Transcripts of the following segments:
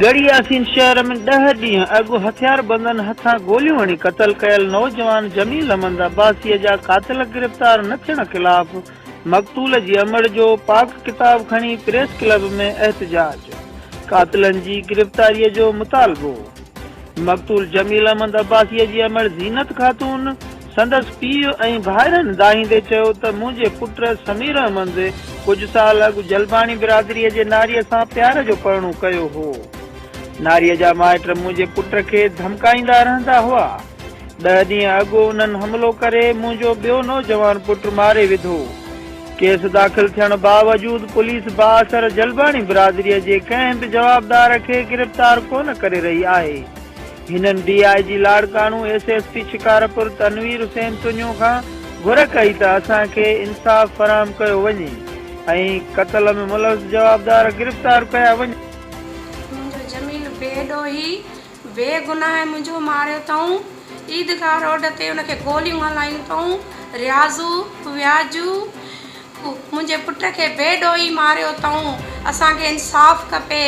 ڳڙهي ياسين شهر ۾ ڏهه ڏينهن اڳ هٿياربندن هٿان گوليون هڻي قتل ڪيل نوجوان جميل احمد عباسيء جا قاتل گرفتار نه ٿيڻ خلاف مقتول جي امڙ جو پاڪ ڪتاب کڻي پريس ڪلب ۾ احتجاج، قاتلن جي گرفتاريء جو مطالبو، مقتول جميل احمد عباسيء جي امڙ زينت خاتون، سندس پيء ۽ ڀائرن دانهيندي چيو ته منهنجي پٽ سمير احمد ڪجهه سال اڳ جلباڻي برادريء جي ناريء سان پيار جو پرڻو ڪيو هو. ناريء جا مائٽ منهنجي پٽ کي ڌمڪائيندا رهندا هئا. ڏهه ڏينهن اڳ انهن حملو ڪري منهنجو ٻيو نوجوان پٽ ماري وڌو. ڪيس داخل ٿيڻ باوجود پوليس بااثر جلباڻي برادريء جي ڪنهن به جوابدار کي گرفتار ڪونه ڪري رهي آهي. هنن D I G Larkana, S S P Shikarpur Tanveer Hussain Tunio کان گهر ڪئي ته اسان کي انصاف فراهم ڪيو وڃي ۽ قتل ۾ ملوث جوابدار گرفتار ڪيا وڃن. منهنجو جميل بي ڏوهي بي گناهه منهنجو ماريو اٿئون عيدگاهه روڊ تي ان کي گوليون هلايون اٿئون رياضو وياجو. منهنجي پٽ کي بي ڊوهي ماريو اٿئون اسان کي انصاف کپي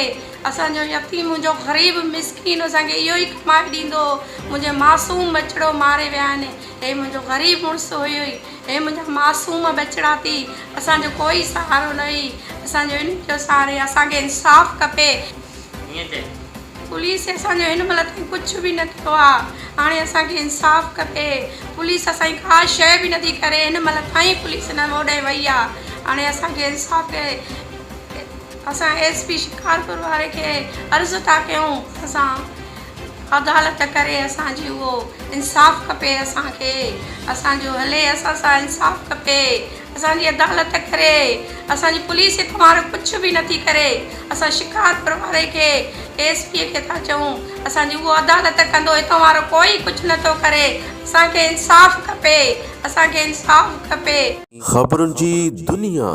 اسان جو يتيم منهنجو غريب مسڪين اسان کي اهو ئي ڪمائي ڏيندو هو منهنجي معصوم ٻچڙو ماري ويا آهن هي منهنجو غريب مڙس هيو ئي هي منهنجا معصوم ٻچڙا ٿي اسان جو ڪوئي سهارو نه هئي اسان جو انهن جو سهارو هي اسان کي انصاف کپي. ائين چئي پوليس اسان جو هن مهل تائين ڪجهه به نه ڪيو آ هاڻي اسان کي انصاف کپي پوليس اسان جي ڪا شئي به نٿي ڪري هن مهل تائين پوليس نه هوڏانهن وئي آ هاڻي اسان کي انصاف کي اسان ايس پي شڪارپور واري کي عرض ٿا ڪيون اسان عدالت ڪري اسان جي اهو انصاف کپي اسان کي اسان جو هلي اسان سان انصاف کپي اسان جي عدالت ڪري اسان جي پوليس هي ڪنوار ڪڇ به نٿي ڪري اسان شڪارپور واري کي ايس پي کي ٿا چئون اسان جي اهو عدالت ڪندو هي ڪنوار ڪوئي ڪڇ نٿو ڪري اسان کي انصاف کپي اسان کي انصاف کپي. خبرن جي دنيا.